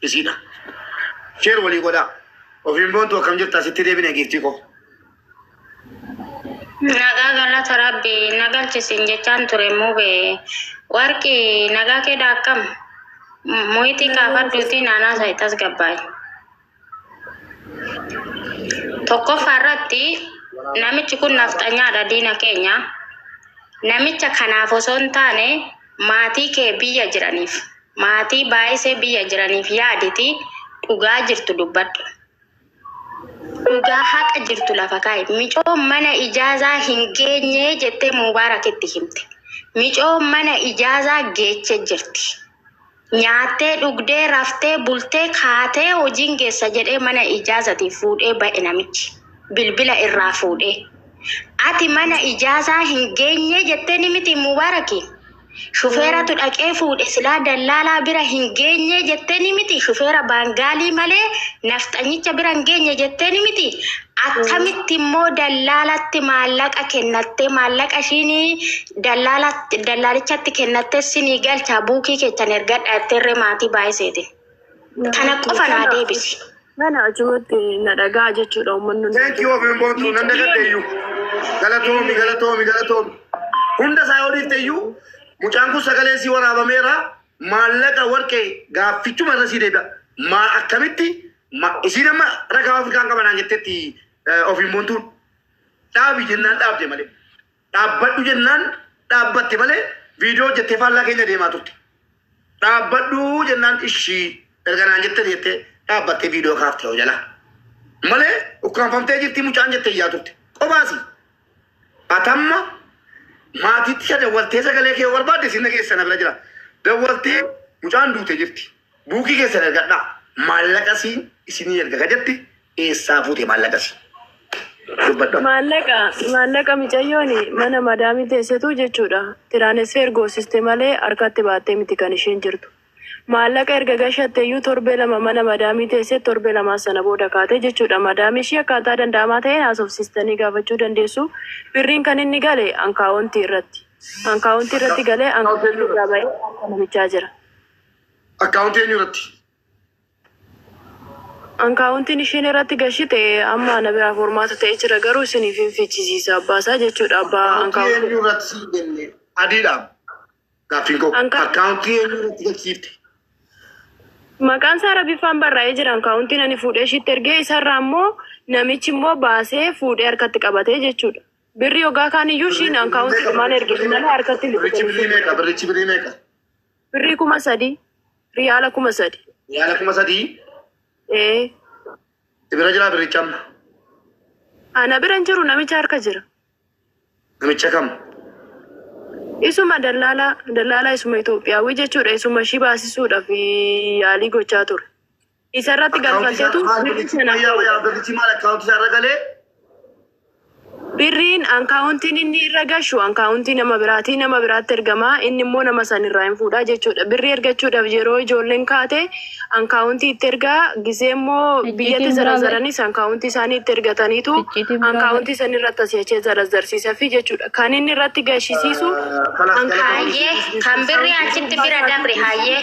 isiidha. Share walii godhaa. Ofiin boontuu akkam jirtaa sitti deebine giiftii koo. Nagaa galata rabbi na galchisin jechaan ture mube warqi nagaa keedha akkam muhitii kaafadhuuti naanaa sa'i tasgabbaa'e. Tokkoffaa irratti namichi kun nafxanyaadha diina keenya. Namicha kanaaf osoo hin taane maatii kee biyya jiraniif. Maatii baayisee biyya jiraniif yaaditi dhugaa jirtu dubbadhu. Dhugaa haqa jirtu lafa kaa'i. Micoo mana ijaazaa hin geenye jettee Mubaarakitti himte. Micoo mana ijaazaa geeche jirti. Nyaattee dhugdee raftee bultee kaatee hojiin geessa jedhee mana ijaazati fuudhee ba'e namichi. Bilbila irraa fuudhee. Ati mana ijaazaa hin geenye jettee ni miti Mubaarakiin. Shufeeratu dhaqee fuudhe silaa dallaalaa bira hin geenye jetteeni miti shufeera baangaalii malee nafxanyicha bira hin geenye jetteeni miti akkamitti immoo dallaalatti maallaqa kennattee maallaqa ishiin dallaalichatti kennattee sinii galchaa buukii keessan ergadha jetteerree maatii baay'iseetiin. Kana qofa naa deebisi. Kana achumatti na dhagaa jechuudha uummanni hundi. Thank you Obin Boontuu nan dagadhe iyyuu. Galatoomi galatoomi galatoomi. Hunda isaa yoo dhiifte iyyuu mucaan kun sagalee sii waraabameera maallaqa warqee gaaffichuma irra sii deebi'a. Maa akkamitti ma- isiin amma ragaa Afrikaan qabanaan jettetti eh, Obin Boontuun dhaabi jennaan dhaabde malee. Dhaabbadhu jennaan dhaabbatte malee viidiyoo hojjettee faallaa keenya deemaa turte. Dhaabbadhu jennaan ishii erga naan jettee jettee dhaabbattee viidiyoo kaafte yoo jala. Malee ukkaanfamtee jirti mucaan jettee iyyaa turte. Qobaasi. Atamma maatiitti isa dawwaltee sagalee kee yoo barbaadde sinna keessa na bira jira. Dawwaltee mucaan duute jirti. Buukii keessan ergadhaa. Maallaqa siin isinii erga ka jetti Eessaa fuute maallaqa si? Dubbadhu. Maallaqa maallaqa micayyoon mana madaamii teessetu jechuudha. Tiraanesfeer goosiste malee harkatti baattee miti kan isheen jirtu. Maallaqa erga gashatte iyyuu torbee lama mana madaamii teessee torbee lamaa sana booda kaate jechuudha. Madaamii ishii akkaataa danda'amaa ta'een haasofsiistanii gaafachuu dandeessu. Birriin kan inni gale ankaawontii irratti. Ankaawontii irratti galee ankaawontii irraa ba'ee harka namichaa jira. Akkaawuntii eenyu irratti? Ankaawuntiin isheen irratti gashite amma ana biraa formaata ta'ee jira garuu isiniif hin fichisiisa abbaa isaa jechuudha abbaa Akkaawuntii ankaawuntii. eenyu irratti siif kenne? Adiidhaam. Gaaffiin koo Anka- akkaawuntii eenyu irratti galchiifte? Maqaan isaa Rabiffaan barraa'ee jira ankaawuntiin ani fuudhee ishiitti ergee isarraa ammoo namichi immoo baasee fuudhee harkatti qabatee jechuudha. Birri yogaa kaan iyyuu ishiin ankaawuntii dhumaan ergite malee harkatti hin Birrichi birrii meeqa? Birrichi birrii meeqa? Birrii kuma sadii. Riyaala kuma sadi. Yaala kuma sadii Ee. si bira jiraa birricha amma. Ana bira hin jiru namicha harka jira. Namicha kam? Isuma dallaalaa dallaalaa isuma Itoophiyaawii jechuudha. Isuma ishii baasisuudhaaf yaalii gochaa ture. Isa irratti galfaltetu birri sana Birrichi maal akkaawuntii isaa irra galee? Birriin ankaawuntiin inni irra gashu ankaawuntii nama biraatii nama biraatti ergama inni immoo nama san irraa hin fuudhaa jechuudha. Birrii ergachuudhaaf yeroo ijoolleen kaate ankaawuntii itti ergaa gisee immoo biyyatti zarazaranis ankaawuntii isaanii itti ergataniitu ankaawuntii san irratti asii achee zarazarsiisa fi jechuudha. Kan inni irratti gashisiisu ankaawuntii. Hayyee kan birrii achitti bira dabre hayyee.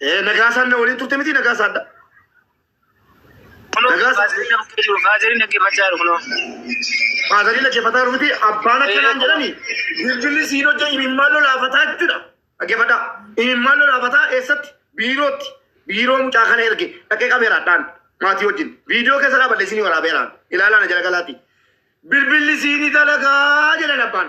Eh, Nagaasaan na waliin turte miti Nagaasaadha. Kunoo Nagaa- baasii nama fudhee jiru faazariin dhaggeeffachaa jiru kunoo. Faazariin dhaggeeffataa jiru miti abbaan akkanaan jedhani bilbilli siin hojja imimmaan lolaafataa jechuudha. Dhaggeeffadhaa. Imimmaan lolaafataa eessatti? Biirootti. Biiroo mucaa kana erge dhaqee qabeeraadhaan maatii wajjin. Viidiyoo keessa dhaabadhe isinii waraabeeraan. Ilaalaa na jala galaati. Bilbilli siinii dalagaa jedhan abbaan.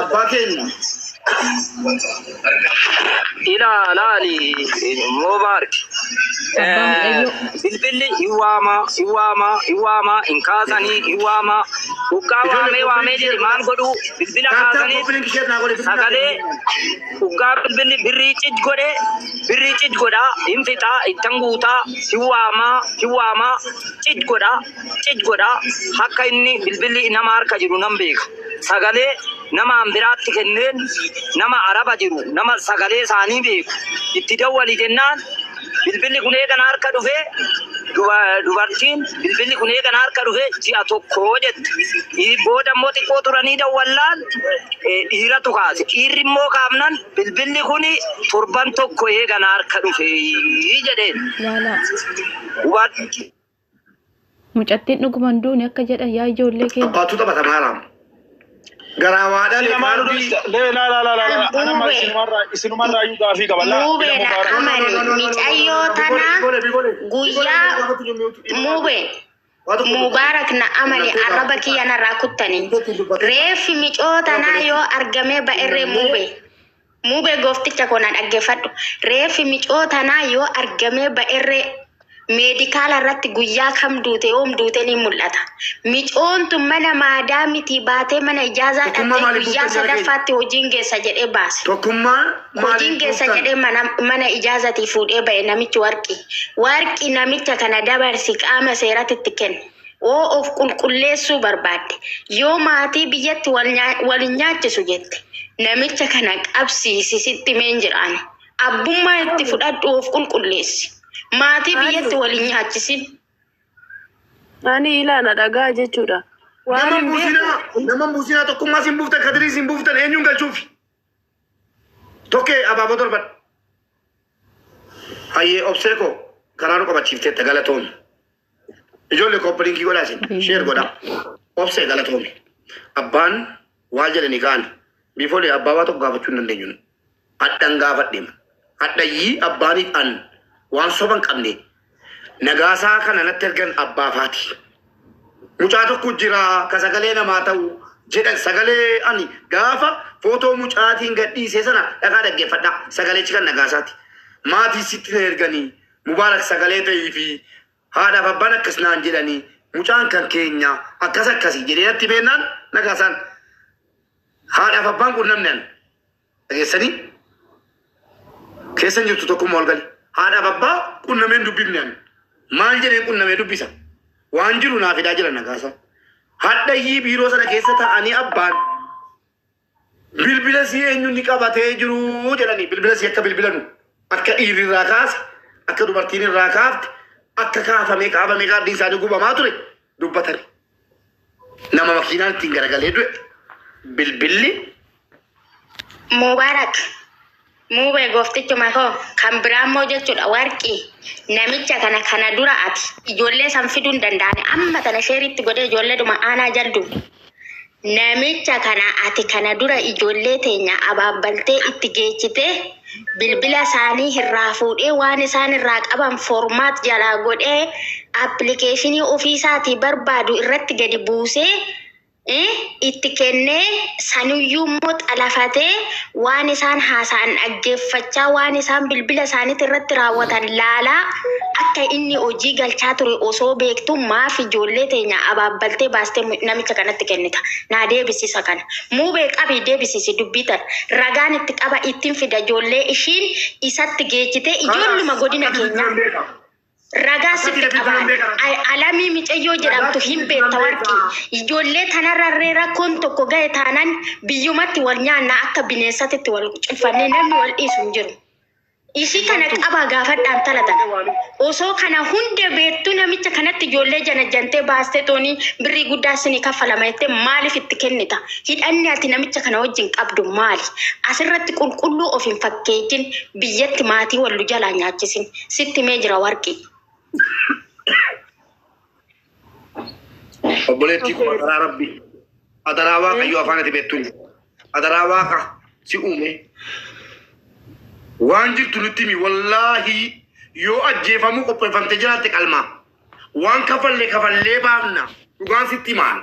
Abbaa keenya. ilaalaani immoo maarki Abbaa Mucayyoo. bilbilli hin waamaa hin waamaa hin waamaa hin kaasanii hin waamaa dhugaa waamee waamee jedhe maal godhuu bilbila kaasanii sagalee dhugaa bilbilli birrii cid godhe birrii cid godhaa hin fixaa ittan guutaa hin waamaa hin waamaa cid godhaa Cic godha akka inni bilbilli nama harka jiru nan beeka sagalee namaan biraatti kenneen nama araba jiru nama sagalee isaanii beeku itti dawwali jennaan bilbilli kun eega na harka dhufe duba- dubartiin bilbilli kun eega na harka dhufe ji'a tokko jette Ii, booda immoo xiqqoo turanii dawwallaan eh, dhiiratu kaase dhiirri immoo kaafnan bilbilli kun torban tokko eega na harka dhufe jedheen Laalaa. hubadhu. Mucattiin dhuguma hin duune akka jedhan yaa ijoollee keenya. Abbaatu taphata maalaam. Garaa waa dhalee Lamaanuu qalbii. dubbista. Lee laa laa laa laa laa. Anamma Muubee. isinumarraa isinumarraa iyyuu gaafii qaba. Laa Muubee ilmoo dha gaara. amari micayyoo tana guyyaa muubee mubaarak na amali arraba kiyya narraa kuttani reeffi micoo tanaa yoo argamee ba'erree muubee Mube gofticha koo na dhaggefadhu reeffi micoo tanaa yoo argamee ba'erree meedikaala irratti guyyaa kam duute yoom duute ni mul'ata micoon tun mana maadaa mitii baatee mana ijaazaa Tokkummaa dhaqxee maaliif guyyaa buuftan jara keenya? sadaffaatti hojiin geessa jedhee baase Tokkummaa hojiin maaliif geessa buuftan? jedhee mana, mana ijaazatii fuudhee ba'e namichi warqi warqi namicha kana dabarsi qaama seeratti itti kenni Woo of qulqulleessuu barbaadde yoo maatii biyyatti wal nyaa- wal hin nyaachisu jette namicha kana qabsiisi sitti himee hin jira ani. Abbummaa itti fudhadhu of qulqulleessi. Maatii biyyatti wal hin nyaachisin. Ani ilaana dhagaa jechuudha. Waan Nama hin beeku. muusinaa, nama muusinaa tokkummaa siin buuftan, kadirii siin buuftan eenyuun galchuufi? Tokkee abaaboo darbadha. Hayyee obsee koo karaa nu qabachiifteetta galatoomi. Ijoollee kooppalinki godhaa isin sheer godhaa. Obsee galatoomi. Abbaan waal jedhanii ka'an. Biifoolee abbaa waa tokko gaafachuu hin dandeenyu. nu. Hadhan gaafadheema. Hadhayyii abbaanii an waan soban qabne. Nagaasaa kana natti ergan abbaa faati. Mucaa tokko jira ka sagalee namaa ta'u jedhan sagalee ani gaafa footoo mucaatiin gadhiisee sana dhaqaa dhaggeeffadhaa sagalechi kan nagaasaati. Maatii sitti na erganii Mubarak sagalee ta'iifi haadhaaf abbaan akkas naan jedhani mucaan kan keenya akkas akkasi jedhee natti beennaan na kaasaan haadhaaf abbaan kun namni an dhageessanii keessan jirtu tokkummaa ol gali haadhaaf abbaa qunnameen dubbifne an maal jedheen qunnamee dubbisa waan jiru naa fidaa jira na kaasaan hadhayyii biiroo sana keessa ta'anii abbaan Bilbila sii eenyunni qabatee jiruu jedhani bilbila sii akka bilbilanu akka dhiirri irraa kaase akka dubartiin irraa kaafte akka kaafamee qaabamee kaardii isaanii gubamaa ture dubbatani. Nama makiinaan ittiin garagalee du'e bilbilli Mubarak Muubee gooftichuma koo kan biraa immoo jechuudha warqii namicha kana kana dura ati ijoollee san fiduu hin danda'ani amma tana sheeritti godhee ijoolleedhuma aanaa jalduu namicha kana ati kana dura ijoollee teenya abaabbaltee itti geechitee bilbila isaanii irraa fuudhee waan isaan irraa qaban foormaat jalaa godhee appilikeeshinii ofii isaatii barbaadu irratti gadi buusee itti kennee sanuyyuu immoo xalafatee waan isaan haasa'an dhaggeeffachaa waan isaan bilbila isaaniitti irratti raawwatan laalaa akka inni hojii galchaa ture osoo beektu maaf ijoollee teenya abaabbaltee baastee mu- namicha kanatti kennita naa deebisisa kana muubee qabii deebisisi dubbii tana ragaan itti qaba ittiin fida ijoollee ishiin isatti geechitee ijoolluma godina keenyaa. Ragaa sitti qabaan alamii micayyoo jedhamtu hin beekta warqii. Ijoollee tanarrarree rakkoon tokko gahe taanan biyyumatti wal nyaanna akka bineensatitti wal cufannee namni wal dhiisu hin jiru. Ishii kana qabaa gaafadhaan talatan. Osoo kana hunda beektu namicha kanatti ijoollee janajjantee baastee toonii birrii guddaa isinii kaffalama jettee maaliif itti kennita? Hidhanni ati namicha kana wajjin qabdu maali? Asirratti qulqulluu of hin fakkeetin biyyatti maatii wallu jalaa nyaachisin. Sitti himee jira warqii. Obboleettii koo adaraa rabbi. Adaraa waaqayyo afaan ati beektuun. Adaraa waaqa si uume. Waan jirtu nutti himi wallaahi yoo ajjeefamuu qopheeffamte jiraatte qalmaa. Waan kafallee kafallee baafna dhugaan sitti himaan.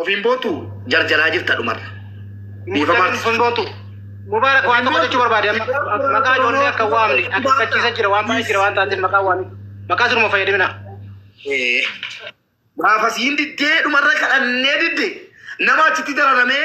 Ofiin bootu jarjaraa jirta dhumarra. Dhiifama Mubarak artist. hin bootu. Mubarak waan tokko jechuu barbaade amma maqaa ijoollee akka hin waamne akeekkachiisa jira waan baay'ee jira waan taateef maqaa waamne maqaa siruma fayyadamina. Eh, Gaafas hin diddee dhumarra kadhannee didde nama achitti dararamee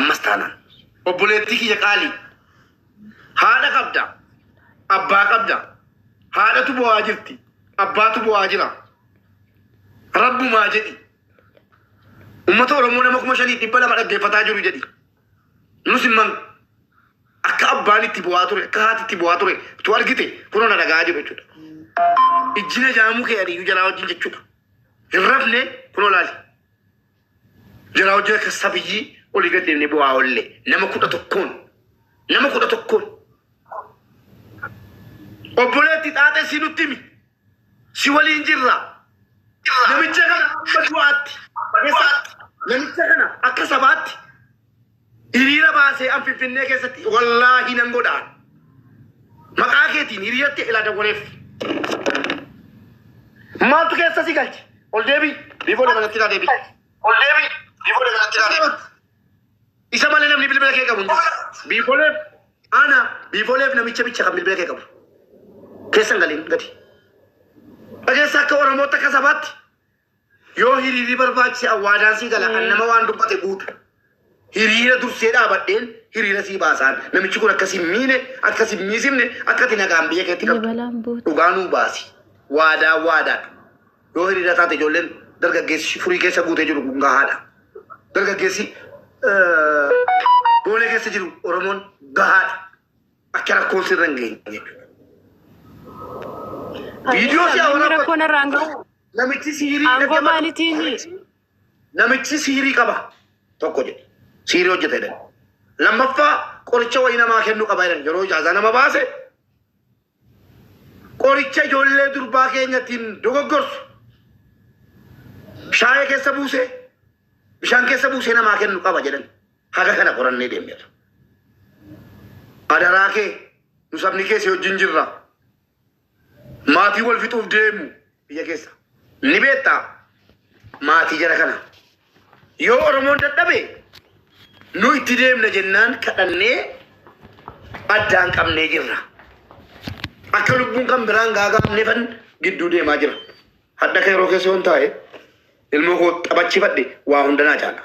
Ammas taanaan obboleettii kiyya qaalii haadha qabda, abbaa qabda, haadhatu bo'aa jirti, abbaatu bo'aa jira. Rabbumaa jedhi. Uummata Oromoo nama kuma shanii dhibba lama dhaggeeffataa jiru jedhi. Nus immoo akka abbaan itti bu'aa ture, akka haati itti bu'aa ture, tu argite kunoo na dhaga'aa jiru jechuudha. Ijjina jaamuu kee adiyyuu jalaa wajjin jechuudha. Hin rafne kunoo laali. Jara hojjaa kessa biyyii oli gad deemne bu'aa olle nama kudha tokkoon nama kudha tokkoon obboleetti xaaxee si nutti himi si waliin jirra namicha kana akka du'aatti keessaatti namicha kana akka sabaatti Hiriira baasee an Finfinnee keessatti wallaahi nan godha. Maqaa keetiin hiriiratti ilaa dawwaleef. Maaltu keessa si galche? Ol deebii. Biifoo dabalatti ilaa deebii. Ol deebii. Biifoo dabalatti ilaa deebii. Isa malee namni bilbila kee qabu hin jiru. Biifooleef ana biifooleef namicha bicha kan bilbila kee qabu. Keessa hin galiin gadi. Dhageessa akka Oromootti akka sabaatti Yoo hiriirri barbaachise awwaadaan sii gala an nama waan dubbate guutu. Hiriira dursee dhaabadheen hiriira sii baasaan. Namichi kun akka sin miine, akka sin miisimne, akka ati nagaan biyya keetti qabdu. Dabalaan buuti. Dhugaa nuu baasi. Waadaa waadaadha. Yoo hiriira taate ijoolleen dargaggeessi furii keessa guutee jiru kun gahaadha. Dargaggeessi eh, boolee keessa jiru Oromoon gahaadha. Akka rakkoon sirra hin geenye. Viidiyoo si'a Namni waraabatu rakkoon irraan gahu namichi siirii aangoo dhaggeeffatu. maalitiin Namichi siirii qaba tokko jedhe. Siirii hojjeta jedhan. Lammaffaa qoricha wayii namaa kennu qaba jedhan. Yeroo ijaazaa nama baase qoricha ijoollee durbaa keenyattiin dogoggorsu. Shaayee keessa buusee bishaan keessa buusee namaa kennu qaba jedhan. haga kana qorannee deemneerra. Adaraa kee nu sabni kee si wajjin jirra. Maatii wal fixuuf deemu biyya keessa. Ni beektaa maatii jara kana. Yoo Oromoon dadhabe nu itti deemna jennaan kadhannee addaan qabnee jirra. Akka lubbuun kan biraan gaagaamneefan gidduu deemaa jira. Hadha kee yeroo keessa yoon taa'e ilmoo koo taphachifadhe waa hunda naa caala.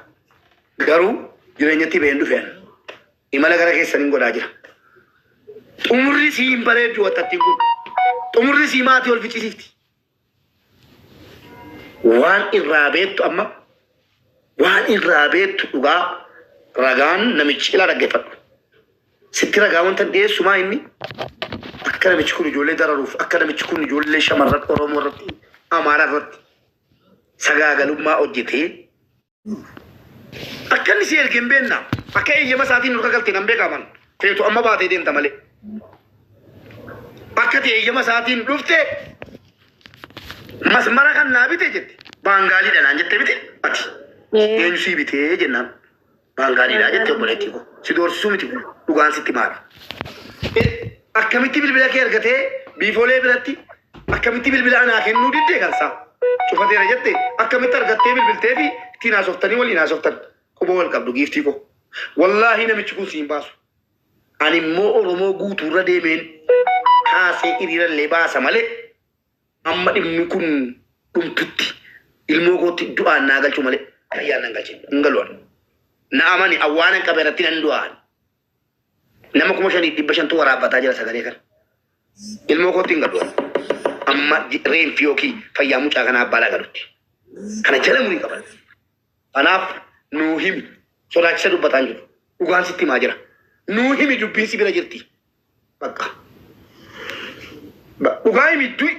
Garuu jireenyatti ba'een dhufeen imala gara keessan hin godhaa jira. Xumurri sii hin bareeddu wattattiin kun. Xumurri sii maatii ol ficcisiifti. Waan irraa beektu amma waan irraa beektu dhugaa ragaan namichi ilaa dhaggeeffadhu. Sitti ragaa wantan dhiyeessu maa inni akka namichi kun ijoollee dararuuf akka namichi kun ijoollee shamarran Oromoo irratti Amaaraa irratti sagaagalummaa hojjetee akka inni si erge hin beekna akka eeyyama isaatiin nurra galte nan beeka aman feetu amma baatee deemta malee akka ta'e eeyyama isaatiin dhufte masmara kan naa bite jette baangaaliidha naan jette bite ati eenyu sii bitee jennaan Waan gaariidha jettee obboleettii koo. Si doorsisuu miti kun dhugaan sitti maali. Eh, Akkamitti bilbila kee argatee biifoolee biratti akkamitti bilbila anaa kennuu diddee kan isaa cufateera jette akkamitti argattee bilbiltee fi ittiin haasoftanii waliin haasoftan quba wal qabdu giiftii koo. Wallaahi namichi kun siin baasu. Ani immoo Oromoo guutuurra deemeen kaasee hiriirallee baasa malee Amma dhimmi kun dhumtutti ilmoo kootti du'aan naa galchuu malee fayyaan nan galchin hin galu ani. Na amani an waanan qabe irratti nan du'a ani. Nama kuma shaniif dhibba shantu waraabbataa jira sagalee kana. Ilmoo kootti hin galu ani. Amma ji- reenfi yookiin fayyaa mucaa kanaa abbaa naa galutti. Kana jala murii qaban. Kanaaf nuu himi. Sodaachisa dubbataan jiru. Dhugaan sitti himaa jira. Nuu himi dubbiin si bira jirti. Bakka. Ba- Dhugaa himi du'i.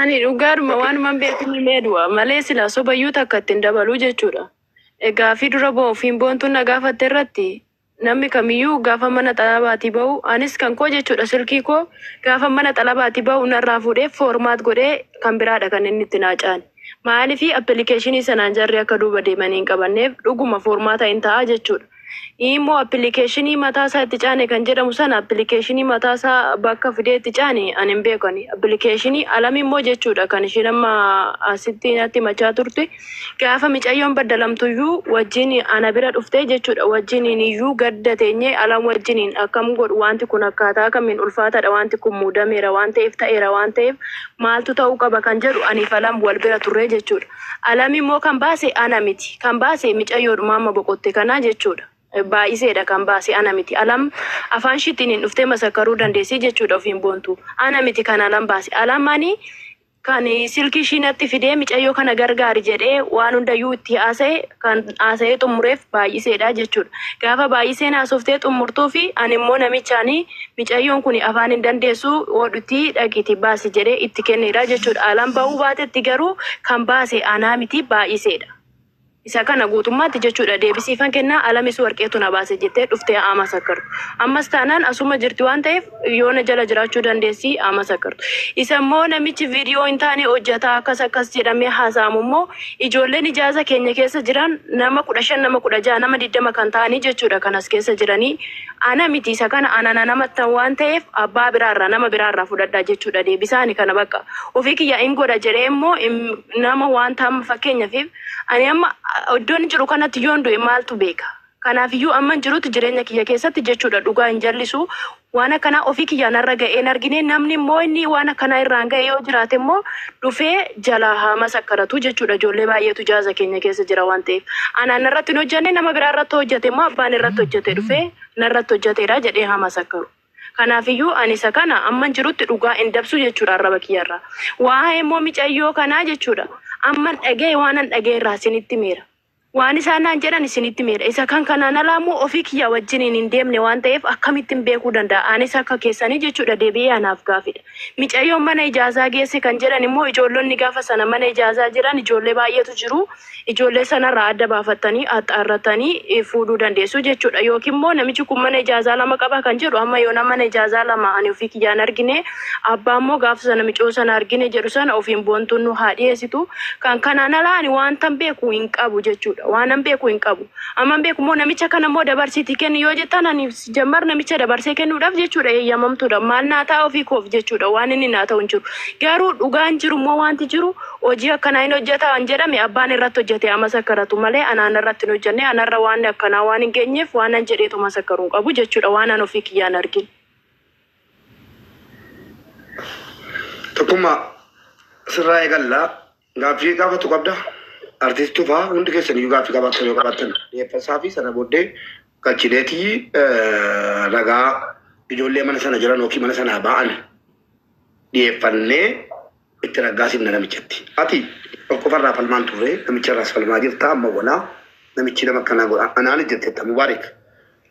Ani dhugaadhuma waanuman beeku ni meedu'a malee silaa sobayyuu takka ittiin dabaluu jechuudha. Egaa fi dura ba'uuf hin boontuun na gaafatte irratti namni kamiyyuu gaafa mana xalabaatii ba'u anis kan koo jechuudha silkii koo gaafa mana xalabaatii ba'u narraa fuudhee foormaat godhee kan biraadha kan inni itti naaca'an. Maalifi appilikeeshinii sanaan jarri akka duuba deemanii hin qabanneef dhuguma foormaata hin ta'a jechuudha. Imoo appilikeeshinii mataa isaa itti caane kan jedhamu sana appilikeeshinii mataa isaa bakka fidee itti caane ani hin beeku ani. Appilikeeshinii alam immoo jechuudha kan ishiin amma asitti natti himachaa turte. Gaafa micayyoon baddalamtuyyuu wajjin ana bira dhuftee jechuudha wajjiniin iyyuu gadda teenyee alam wajjiniin akkam godhu wanti kun akkaataa kamiin ulfaataadha wanti kun muudameera waan ta'eef ta'eera waan ta'eef maaltu ta'uu qaba kan jedhu aniif alam wal bira turree jechuudha. Alam immoo kan baase ana miti. Kan baase micayyoodhuma amma boqotte kana jechuudha. Baay'iseedha kan baase ana miti. Alam afaan ishiittiin hin dhuftee masakkaruu dandeessii jechuudha ofiin boontu. Ana miti kan alam baase. Alam ani kan silkii ishii natti fidee micayyoo kana gargaari jedhee waan hundayyuu itti haasa'e kan haasa'ee xumureef baay'iseedha jechuudha. Gaafa baay'iseen haasoftee xumurtuu fi ani immoo namichaanii Micayyoon kuni afaan hin dandeessu oodhutii dhaqiiti baasi jedhee itti kenneedha jechuudha. Alaan ba'uu baatetti garuu kan baase anaa miti baay'iseedha. Isa kana guutummaatti jechuudha deebisiifan kennaa alamis warqeetu na baase jettee dhuftee haa masakkartu. Ammas taanaan asuma jirti waan ta'eef yoo na jala jiraachuu dandeessi haa masakkartu. Isa immoo namichi viidiyoo hin taane hojjataa akkas akkas jedhamee haasa'amu immoo ijoolleen ijaaza keenya keessa jiran nama kudha shan nama kudha ja'a nama digdama kan ta'anii jechuudha kan as keessa jiranii Ana miti isa kana ana na namattan waan ta'eef abbaa biraa irraa nama biraa irraa fudhadhaa jechuudha deebisaani kana bakka ofii kiyya in godha jedhee immoo nama waan taama fakkeenyaaf ani amma iddoon jiru kanatti yoon du'e maaltu beeka kanaaf iyyuu amman jirutti jireenya kiyya keessatti jechuudha dhugaa hin jallisu waan akkanaa ofii kiyyaan irra ga'ee hin argine namni immoo inni waan akkanaa irraan ga'e yoo jiraate immoo dhufee jalaa haa masakkaratu jechuudha ijoollee baay'eetu jaaza keenya keessa jira waan ta'eef anaan narratti hin hojjanne nama biraa irratti hojjate immoo abbaan irratti hojjate dhufee narratti hojjateedha jedhee haa masakkaru kanaafiyyuu ani isa kana amman jirutti dhugaa hin dabsu jechuudha arraba kiyyarraa waa'ee immoo micayyoo kanaa jechuudha amman dhaga'e waanan dhaga'e irraa isinitti meera Waan isaan naan jedhan isinitti himeera. Isa kan kanaan alaa immoo ofii kiyyaa wajjiniin hin deemne waan ta'eef akkamittin beekuu danda'a? Anis akka keessanii jechuudha deebi'ee anaaf gaafidha. Micayyoon mana ijaazaa geesse kan jedhan immoo ijoollonni gaafa sana mana ijaazaa jiran ijoollee baay'eetu jiru. Ijoollee sanarraa adda baafattanii axxaarrattanii fuudhuu dandeessu jechuudha. Yookiin immoo namichi kun mana ijaazaa lama qaba kan jedhu amma yoonaa mana ijaazaa lama ani ofii kiyyaa hin argine. Abbaan moo gaafa sana micoo sana argine jedhu sana ofiin boontuun nu haa dhiyeessitu. Kan kanaan alaa ani waantan beeku hin qabu jechuudha. Waanan beeku hin qabu. Amman beeku immoo namicha kana immoo dabarsiitii kenni yoo jettan ani jammar namicha dabarsee kennuudhaaf jechuudha eeyyamamtuudha. Maal naa ta'a ofii koof jechuudha waan inni naa ta'u hin jiru. Garuu dhugaan jiru immoo waanti jiru hojii akkanaa hin hojjeta waan jedhame abbaan irratti hojjete haa masakkaratu malee anaan irratti hin hojjenne anarra waan akkanaa waan hin geenyeef waanan jedheetu masakkaru hin qabu jechuudha waanan ofii kiyyaan argin. Tokkummaa sirraa eegalla. Gaaffii gaafatu qabda. Artiist Tufaa hundi keessan iyyuu gaaffii qabaattan yoo qabaattan dhiyeeffasaa fi sana booddee galchineeti eh, ragaa ijoollee mana sana jiran yookiin mana sanaa ba'an dhiyeeffannee itti raggaasifna namichatti. Ati tokkofarraa falmaan turre namicharraas falmaa jirta amma walaa namichi nama akkanaa godha anaan jetteetta mubaarik.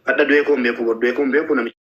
Hadha du'ee koo hin beeku bor du'ee koo hin beeku namichi.